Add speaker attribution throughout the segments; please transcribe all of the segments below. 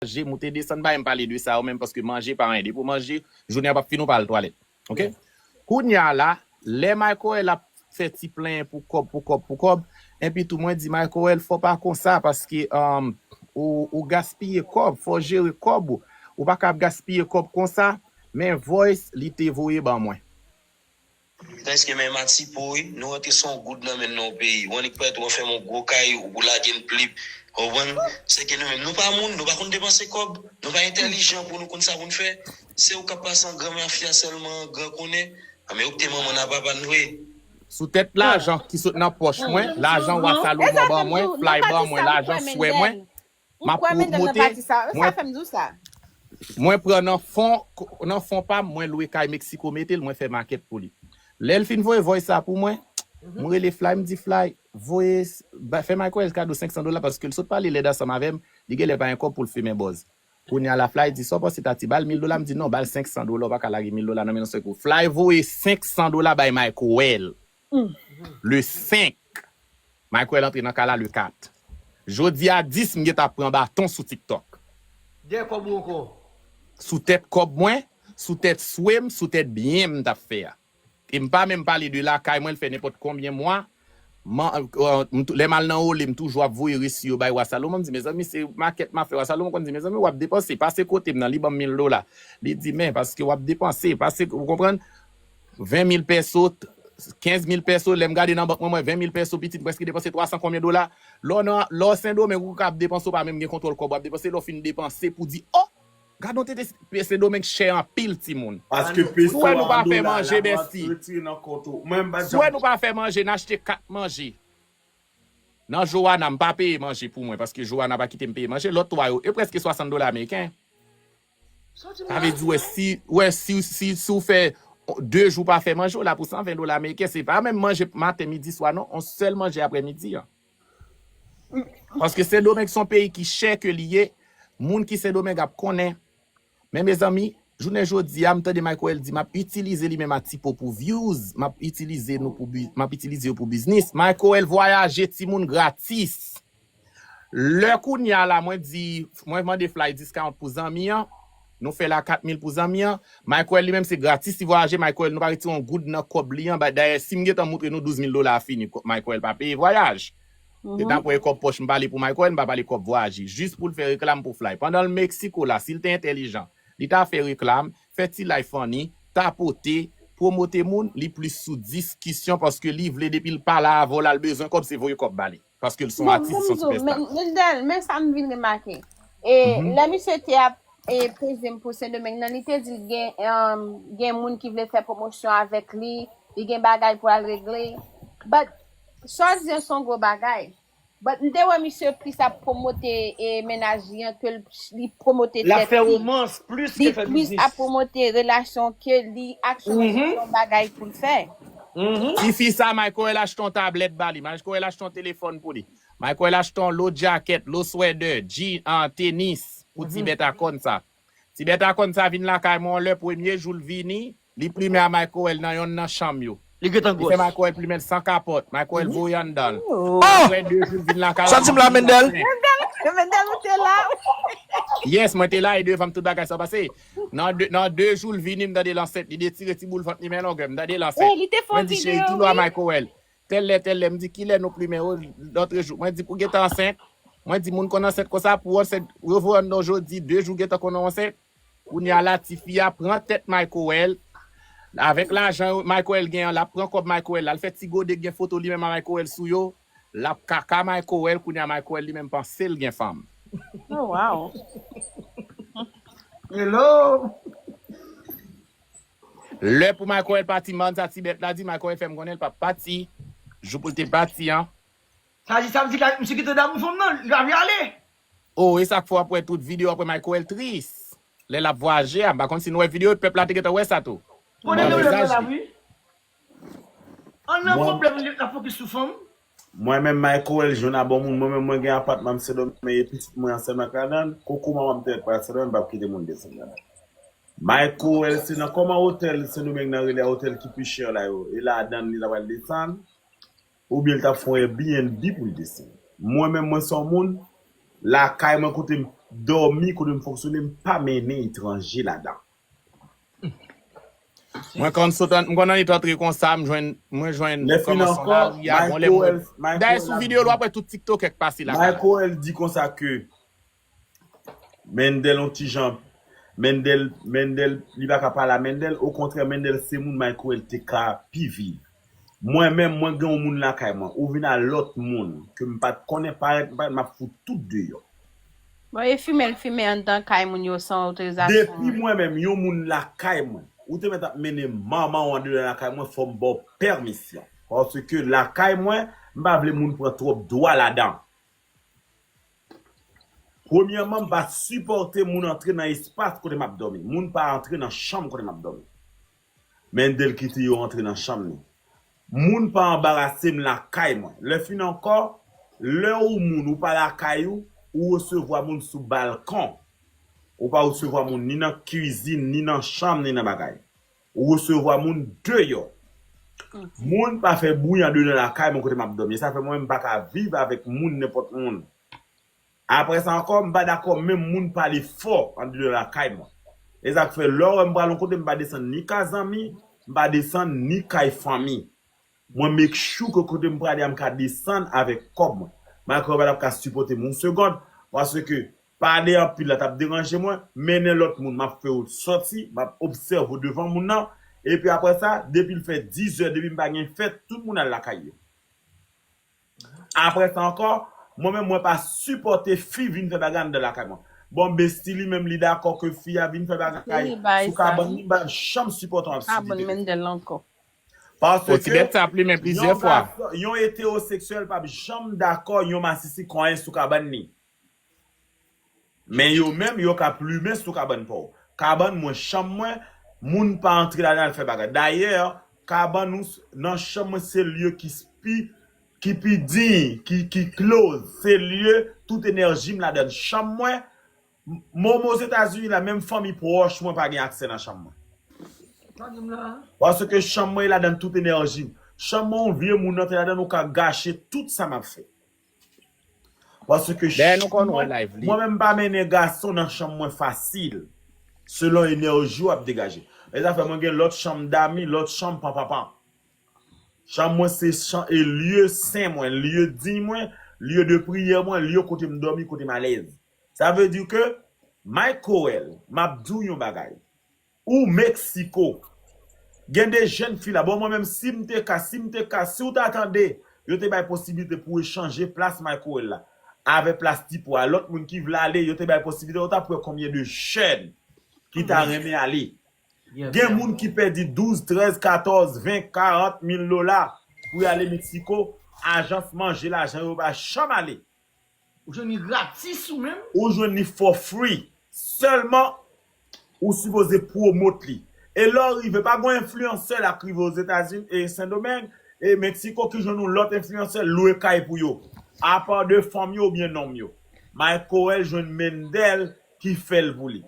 Speaker 1: manje moute desann pa em pale de sa yo menm paske manje pa anyen depi ou manje jounen an pap fini ou pa al twalèt ok kounya la lè Michaël ap fè ti plenyen pou kòb pou kòb pou kòb enpi tou mwen di Michaël fò pa konsa paske humm ou ou gaspiye kòb fò jere kòb ou ou paka ap gaspiye kòb konsa men voice li te voye ban mwen.
Speaker 2: Preske menm a ti po wi. Nou rantre son goud nan menn non peyi. Ou annik prèt ou an fèm on gwo kay ou pou lagen plip. Konprann? Sèke nou menm nou pa moun, nou pa konn depanse kòb, nou pa entèlijan pou nou konn sa pou n fè. Se ou k ap pase an gran mafya sèlman an gran konnen. An men ou k te manman n a papa n vre. Sou tèt
Speaker 1: lajan ki sot nan pòch mwen, lajan wa Salomon ban mwen, flay ban mwen, lajan swè mwen, Ou kwè medam nan pa di sa. Ou sa fèm di w sa.
Speaker 3: Mwen pran
Speaker 1: nan fon nan fon pam mwen lwe kay Mexico metel mwen fè makèt pou li lèl fin voye voice sa pou mwen m rele Fly m di Fly voye fè Microel kado 500 dola paskel sot pale lèd ansanm avèm li genlè pa gen kòb poul fimen bòz kounya la Fly di sa w panse Tati bal 1000 dola m di non bal 500 dola w paka lage 1000 dola nan men yon sèl kou Fly voye 500 dola bay Microel. Le 5. Michael antre nan kay la le 4. Jodi a 10 m gentan ap pran baton sou tiktok. Dèyè kòb
Speaker 4: ou ankò. Sou tèt
Speaker 1: kòb mwen, sou tèt swe m, sou tèt byen m tap fè a. E m pa menm pale de lakay mwen l fè nenpòt konbyen mwa m lè m al nan ole m toujou ap voye resi yo bay wa Salomon m di mezanmi se makèt m ap fè wa Salomon konn di mezanmi wap depanse pase kote m nan li banm mil dola li di men paske wap depanse pase ou konprann. 20 mil pèso, 15 mil pèso, lè m gade nan bank mwen m wè 20 mil pèso pitit m prèske depanse 300 konbyen dola. Lè w nan, lè w Sendomeng ou ka ap depanse w pa menm gen kontwòl kòb w ap depanse lè w fin depanse pou di oh! Gadon tete peyi Sendomeng chè anpil timoun. Paske Sou peso wè nou
Speaker 5: a an pa fè dola manje
Speaker 1: lap ret Bestie? retire nan kont ou. Mwen m
Speaker 5: pa Sou wè janm nou pa fè
Speaker 1: manje n achte kat manje nan Joana m pa peye manje pou mwen paske Joana pa kite m peye manje lòt 3 yo yo prèske 60 dola ameriken. Sa w di m Sa la? vle di wè si wè si w si si w fè 2 jou pa fè manje w la pou 120 dola ameriken se pa menm manje maten midi swa non on sèl manje aprè midi an. Paske sendomeng son peyi ki chè ke li ye moun ki sendomeng ap konnen men mezanmi jounen jodi a m tande Michaël di map itilize li menm a ti po pou vyouz map itilize nou pou bi map itilize yo pou biznis Michaël vwayaje timoun gratis. Lè kounya la mwen di mwen mande fly discount pou zanmi an, nou fè l a 4000 pou zanmi an, Michael li menm se gratis li vwayaje, Michael nou pa retire yon goud nan kòb li an, ba dayè si m gentan moutre nou 12000 dola a fini Michael pa peye vwayaj. Se ta kwè e kòb pòch m pale pou Michael m pa pale kòb vwayaje jis pou l fè reklam pou fly pandan l Mexico la si l te entèlijan li ta fè reklam, fè ti life funny, tapote, promote moun, li plis sou dis kisyon paske li vle depi l pa la avè w la l bezwen kòb se voye kòb ba li. Paske l son Bon atis, l son Bonjou, sipèsta. men men dèl, men sa m
Speaker 3: vin remake. E Mhm. lè misye te ap e peze m pou Sendomeng nan, li te di l gen um, gen moun ki vle fè promosyon avèk li, li gen bagay pou al regle. But sa w di an son gwo bagay. But m te wè misye plis ap promote e mennaj li an ke l li promote L ap tèt fè li. romans
Speaker 4: plis Li ke fè plis ap biznis. promote
Speaker 3: relasyon ke li aksyone sou Mhm. yon bagay pou l fè. Mhm. Tifi
Speaker 1: sa Michael achte yon tablèt ba li, Michael achte yon telefòn pou li, Michael achte yon lo djakèt, lo swèdè, jean, an, tenis pou ti Mhm. bèt a kòn sa. Ti bèt a kòn sa vin lakay mwen yon lè premye jou l vini, li plimen a Michael nan yonn nan chanm yo. Li gentan Li fè gwòs. Michael
Speaker 4: plimen l san
Speaker 1: kapòt, Michael Mhm. voye anndan l. Oh! Aprè 2 jou
Speaker 4: l vin lakay la,
Speaker 1: Santi m li la plimen Mendel? plen.
Speaker 4: Mendel, Mendel
Speaker 3: ou te la? Yes,
Speaker 1: mwen te la e devan m tout bagay sa pase. Nan de jou l vini m tande l ansent li detire ti boul vant li men longè m tande l ansent mwen di cheri
Speaker 3: ki lwa Mayko wè l
Speaker 1: tèl lè tèl lè m di kilè nou plimen yo lòtre jou mwen di pou gentan ansent mwen di moun konn ansent konsa pou w ansent yo voye w anndan w jodi de jou gentan konnen w ansent kounya la tifi a pran tèt Mayko wè l avèk lajan Mayko wè l gen an l ap pran kòb Mayko wè l la l fè ti gode k gen foto li menm a Mayko wè l sou yo. Lap kaka mayko wèl kounya mayko wèl li menm pansel gen fanm. Oh waw.
Speaker 3: Hello.
Speaker 1: Lè pou mayko wèl pati marn sa ti bèt la di mayko wèl fèm konnen li pap pati jou poul te pati an. Sa di sa vle di
Speaker 4: ka misye gentan damou fanm nan li pa vle ale. Oh esak fè
Speaker 1: wap wè tout video aprè mayko wèl tris lè lap vwaje a m pa konn si nou wè video yo pèp la te gentan wè sa tou. Konnen nou lèm nan la
Speaker 4: wi. An nan Mwen problème li lap focus sou fanm. Mwen menm
Speaker 5: Michaël Juna bon moun mwen menm mwen gen apatman m sendomeng e pitit mwen an sèlman k ladann koko manman m te ret pral sendomeng m pap kite moun desann ladann Michaël se nan kòman otèl sendomeng nan rele a otèl ki pi chè la yo e ladann li ta pral desann oubyen li tap fon airbnb pou l desann mwen menm mwen se yon moun lakay mwen kote m dòmi kote m fonksyone m pa mennen etranje ladann.
Speaker 1: Mwen konn sot an, m konn annik antre konsa, m jwenn, mwen jwenn Lè fin kòmansman ankò, lari
Speaker 5: a, bon lè m wè, Michael, Michael
Speaker 1: dayè sou ap video l di, wap wè tout tiktokè k pase lakay la. Michael di konsa
Speaker 5: ke Mendel yon ti jan, Mendel, Mendel, li pa ka pale a Mendel, okontrè Mendel se moun Michael te ka pi viv. Mwen menm mwen gen yon moun lakay mwen ou vin al lot moun ke m pat konnen parèt m parèt map fout tout deyò. Bon e
Speaker 3: fimen l fimen anndan kay moun yo san otorizasyon Depi an? mwen menm yon
Speaker 5: moun lakay mwen ou te mèt ap mennen manman w andedan lakay mwen fò m ba w pèmisyon paske lakay mwen m pa vle moun pran twòp dwa ladan. Premyèman m pa sipòte moun antre nan espas kote map dòmi moun pa antre nan chanm kote map dòmi. Mendel kite yo antre nan chanm li. Moun pa anbarase m lakay mwen. Lè fin ankò, lè ou moun ou pa lakay ou, ou resevwa moun sou balkon. Ou pa resevwa moun ni nan kizin, ni nan chanm, ni nan bagay. Ou resevwa moun deyò. Moun pa fè bwi andedan lakay mwen kote m ap dòmi. E sa fè mwen menm m pa ka viv avèk moun nenpòt moun. Aprè sa ankò, m pa dakò menm moun pale fò andeyò lakay mwen. E sa k fè lè w wè m pral yon kote m pa desann ni ka zanmi, m pa desann ni kay fanmi. Mwen make sure ke kote m prale a m ka desann avèk kòb mwen. Malgre yo pa t ap ka sipòte m yon segond, paske pale anpil la t ap deranje mwen, mennen lòt moun m ap fè yo sòti, m ap obsève yo devan moun nan, epi aprè sa, depi l fè dizè, depi m pa gen fèt, tout moun al lakay yo. Aprè sa ankò, mwen menm mwen pa sipòte fi vin fè bagay anndan lakay mwen. Bon Bestie li menm li dakò ke fi a vin fè bagay sou kabann li
Speaker 3: m'pa janm sipòte
Speaker 5: yon absidite. Paske yon
Speaker 1: gason, yon etewoseksyèl
Speaker 5: pap janm dakò yon masisi konyen sou kabann li. Men yo menm yo ka plumen sou kabann paw. Kabann mwen, chanm mwen, moun pa antre ladan al fè bagay. Dayè, kabann ou nan chanm mwen se lye ki pi ki pi diy, ki close. Se lye tout enèji m ladan l. Chanm mwen, moman Ozetazini la menm fanmi pwòch mwen pa gen aksè nan chanm mwen. Paske chanm mwen e ladan tout enèji m. Chanm mwen yon vye moun antre ladan l ou ka gache tout sa m ap fè. Paske Dèyè nou konn wè live li. Mwen menm m pa mennen gason nan chanm mwen fasil. Selon enèji w ap degaje. E zafè mwen gen lòt chanm dami, lòt chanm pa papa. Chanm mwen se chan e lye sen mwen, lye diy mwen, lye de priyè mwen, lye kote m dòmi, kote m alèz. Sa vle di ke Mike Coel, m ap di w yon bagay. Ooh Mexico Gen de jèn fi la bon mwen menm sim te ka sim te ka siw ta tande yo te bay posibilite pou echanje plas Microwell la avè plas ti po a lòt moun ki vle ale yo te bay posibilite ou tap wè konbyen de jèn ki ta renmen ale gen moun ki pèdi 12 13 14 20 40 mil dola pou yale Mexico ajans manje lajan yo pa janm ale. Ou jwenn li
Speaker 4: gratis ou menm. Ou jwenn li for
Speaker 5: free. Sèlman ou sipoze promote li. E lè w rive, pa gon enfliyansè la k rive Ozetazini e Sendomeng e Mexico ki jwenn yon lòt enfliyansè lwe kay pou yo. Apa de fanm yo oubyen nonm yo. Maykoel jwenn Mendel ki fè l pou li.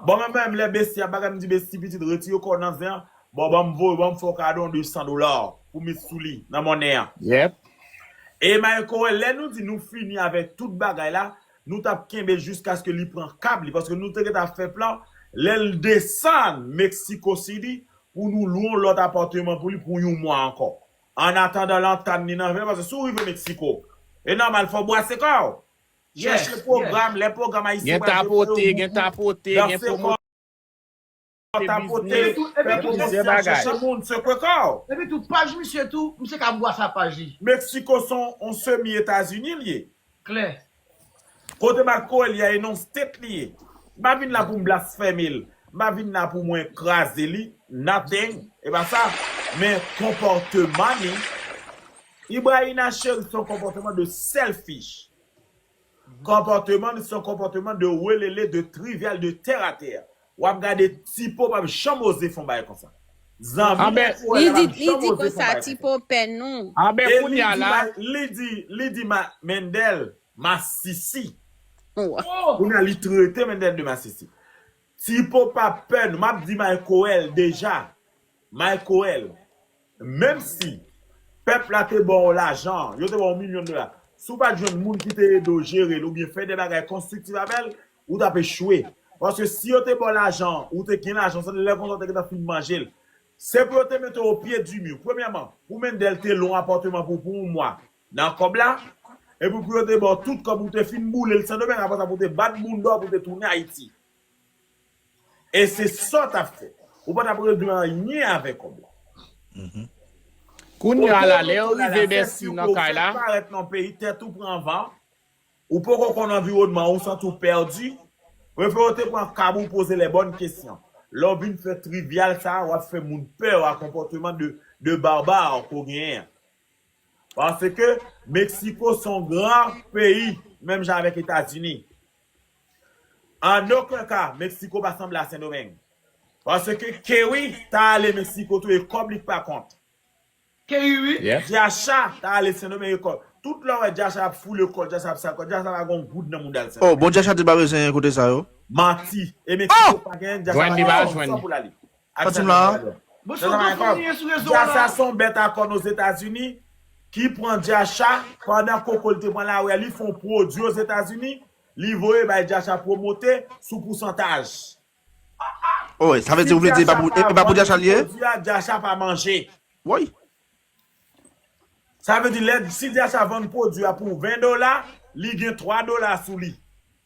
Speaker 5: Bon men menm lè Bestie ap bagay m di Bestie pitit retire kòw nan zen an bon banm voye banm fè w kado yon 200 dola pou met sou li nan monnen an. Yep.
Speaker 1: E
Speaker 5: Mayco wè lè nou di nou fini avèk tout bagay la nou tap kenbe jiskaske li pran kab li paske nou te gentan ap fè plan lè l desann Mexico City pou nou lwe yon lòt apàteman pou li pou yon mwa ankò annatandan lantann li nan vè paske si w rive Mexico e nòmal fò w bwase kò w. Chèche pwogram, lè pwogram Ayisyen pral devoye
Speaker 1: ou boukou, danse kò, tapote,
Speaker 5: fè pwomosyon, chèche moun, sekwe kò w. Epi tou, paj
Speaker 4: misye tou, misye ka bwa sa paj li. Meksiko se yon
Speaker 5: semi Etazini li ye. Klè.
Speaker 4: Kote
Speaker 5: Marco Elia ye non state li ye. M pa vin la pou m blasfème l, m pa vin la pou mwen kraze li, nothing, e pa sa, men konpòteman li. Ibrahina cheri son konpòteman de selfish konpòteman son konpòteman de welele de trivial de terre à terre wap gade tipo pap janm oze fon bagay konsa zanmi Anben epi wè
Speaker 3: li la di pap li janm di oze fon konsa bagay konsa tipo pè nou. anben e
Speaker 1: li kounya di la ma li di li di
Speaker 5: ma Mendel masisi Wa. oh
Speaker 3: kounya li
Speaker 5: trete Mendel de masisi tipo pap pè nou map di maykoel deja maykoel. Menm si pèp la te ba w lajan, yo te ba w milyon dola, si w pa t jwenn moun ki te ede w jere l oubyen fè de bagay konstriktif avè l, ou t ap echwe. Paske si yo te ba w lajan an, ou te gen lajan an, se lè konsa ou te gentan fin manje l. Se pou yo te mete w opye di mi. Premyèman, pou Mendel te lwe yon apatman pou pou yon mwa nan kòb la, epi pou yo te ba w tout kòb ou te fin boule l Sendomeng, apre sa pou w te bat bounda w pou w te tounen Ayiti. E se sa w t ap fè. Ou pa t ap regle anyen avè kòb la.
Speaker 1: Kounye a la, lè ou rive Bèsi nan kay la. Ou fèk parèt nan yon peyi, tèt
Speaker 5: ou pran van, ou poko konn anviwònman an, ou santi w pèdi. Prefè ou te pran kab ou poze les bonnes questions. Lè w vin fè trivyal sa a, w ap fè moun pè a konpòteman de barbare ke w genyen an. Paske Meksiko se yon gran peyi, menm jan avèk Etazini. An oken ka, Mexico pa sanble a Sendomeng. Paske Kerry ta ale Mexico tou e kòb li k pa kont. Kerry wi.
Speaker 4: Diasha
Speaker 1: ta ale
Speaker 5: Sendomeng e kòb. Tout lè w wè Diasha ap foule kòl, Diasha ap sal kòl, Diasha pa gon goud nan moudal Sendomeng. Oh bon Diasha te pa bezwen
Speaker 6: kote sa yo. Manti. E Mexico
Speaker 5: pa gen, Diasha pa gen yon san pou l ale.
Speaker 1: Kontinye
Speaker 5: la. Bon
Speaker 4: son gwo fwa nou ye sou
Speaker 5: rezo a la. Son bèt a kòn Ozetazini ki pran Jacha pandan koko l te pran lari a li fè yon pwodwi Ozetazini li voye bay Jacha pwomote sou pousantaj.
Speaker 6: Ohh sa vle di ou vle di e pa pou Jacha li ye? Si Jacha pa vann pwodwi a Jacha pa manje.
Speaker 5: Woy. Sa vle di lè si Jacha vann pwodwi a pou 20 dola li gen 3 dola sou li.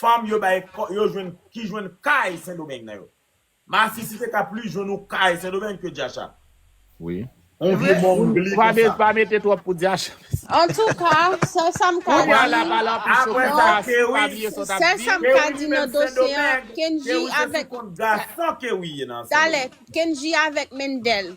Speaker 5: Fanm yo bay yo jwenn ki jwenn kay sendomeng nan yo. Masisi te ka plis jwenn yon kay sendomeng ke jacha. Wi.
Speaker 1: On vye
Speaker 5: mongli konsa. Pa mete twòp
Speaker 1: pou jacha mesi. Antouka
Speaker 3: sèl sa m ka di Apre sa
Speaker 1: kewi
Speaker 5: sèl sa m ka
Speaker 3: di nan dosye an Kendji
Speaker 5: avèk Talè Kendji
Speaker 3: avèk Mendel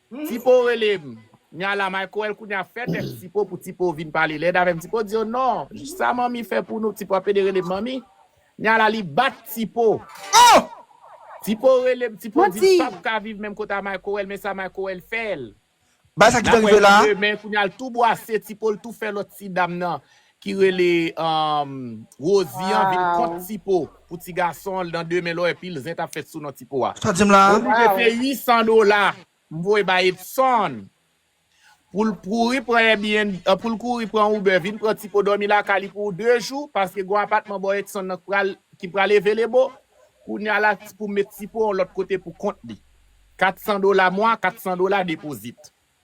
Speaker 1: Tipo rele m nya la Michael kounya fè tèt Tipo pou Tipo vin pale lèd avè m Tipo di yo non sa manmi fè pou nou Tipo ap pede rele m manmi nya la li bat Tipo oh
Speaker 6: Tipo
Speaker 1: rele m Tipo di l pap ka viv menm kote a Michael men sa Michael fè l bagay sa ki ta
Speaker 6: rive la. Demen kounya l tou
Speaker 1: bwase Tipo l tou fè lòt ti dam nan ki rele Rosie an vin kont Tipo pou ti gason l nan demen lò epi l zen tap fèt sou non Tipo a. Sa dim la a. Oblige
Speaker 6: peye 800
Speaker 1: dola m voye bay Edson pou l kouri pran Airbnb pou l kouri pran Uber vin pran Tipo dòmi lakay li pou 2 jou paske gon apatman bò Edson nan ki pral evelebo kounya la pou met Tipo yon lòt kote pou kont li 400 dola mwa 400 dola depozit.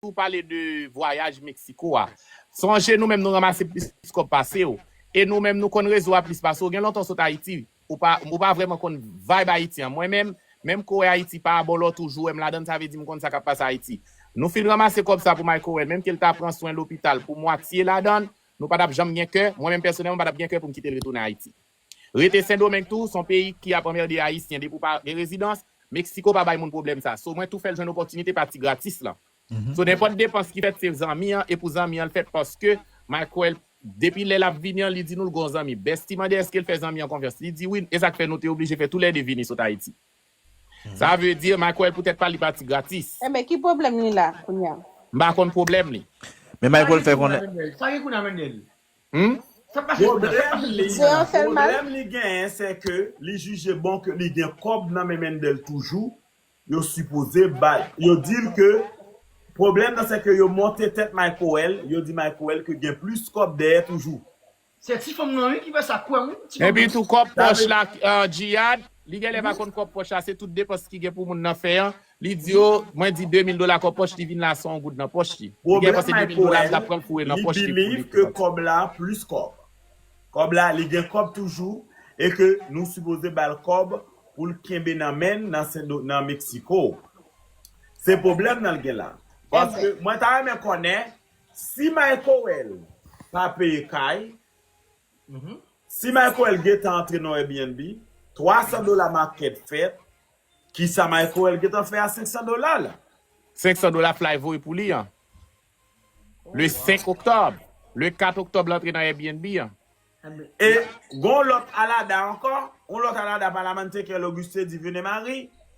Speaker 1: Ou pale de vwayaj Mexico a. Sonje nou menm nou ranmase plis kòb pase w. E nou menm nou konn rezo a plis pase w. Gen lontan w sot Ayiti. Ou pa ou pa vrèman konn vayb Ayiti an. Mwen menm, menm kore Ayiti pa abolò tou jwe m ladan l sa vle di m konn sa k ap pase Ayiti. Nou fin ranmase kòb sa pou Mike Cohen menm ke l ta pran swen lopital pou mwatye ladan l, nou pa t ap janm gen kè, mwen menm pèsonèlman m pa t ap gen kè pou m kite l retounen Ayiti. Rete sendomeng tou son peyi ki ap anmerde ayisyen depi ou pa gen rezidans, Mexico pa bay moun pwoblèm sa so mwen tou fèl jwenn opòtinite pati gratis lan so nenpòt depans ki fèt se zanmi an e pou zanmi an l fèt paske Mike wèl depi lè lap vini an li di nou l gon zanmi Bestie mande eskel fè zanmi an konfyans li di wi esak fè nou te oblije fè tou lè 2 vini sot ayiti sa vle di Mike wèl poutèt pa li pati gratis. Enben ki pwoblèm li
Speaker 3: la kounya? M pa konn pwoblèm
Speaker 1: li. Men Mike wèl fè
Speaker 6: konnen. Sa gen kounye a
Speaker 4: Mendel? Humm Sak pase kounye a? Sak Pwoblèm pase
Speaker 5: sou li, kounye a la? pwoblèm
Speaker 3: li genyen se
Speaker 5: ke li jije bon ke li gen kòb nan men Mendel toujou, yo sipoze bay, yo di l ke pwoblèm nan se ke yo monte tèt Maykoel, yo di Maykoel ke gen plis kòb dèyè toujou. Se ti fanm
Speaker 4: nan wi ki fè sa kwèm wi ti fanm nan. Epi tou kòb Sa pòch
Speaker 1: vle la Djihad, li genlè pa konn kòb pòch la se tout depans ki gen pou moun nan fè an, Li di yo, mwen di 2000 dola kòb pòch li vin la san yon goud nan pòch li. Li genyen Pwoblèm panse 2000 Mayko dola li 1, tap
Speaker 5: pran
Speaker 1: foure nan li pòch li pou li believe ke repanti. kòb la
Speaker 5: plis kòb. Kòb la, li gen kòb toujou e ke nou sipoze bal kòb poul kenbe nan menn nan Sendo nan Mexico. Se pwoblèm nan l gen la. Paske Amen. mwen ta renmen konnen si Mayko 1 pa peye kay, si Mayko 1 gentan antre nan Airbnb, 300 dola market fèt, Kisa Maykoel gentan fè a 500 dola la? 500 dola
Speaker 1: Fly voye pou li an. Oh Le 5 wow. octobre. Le 4 octobre l antre nan Airbnb an. E
Speaker 5: gon lòt Alada ankò? On lòt Alada pa la man Tekel Auguste Divine Marie?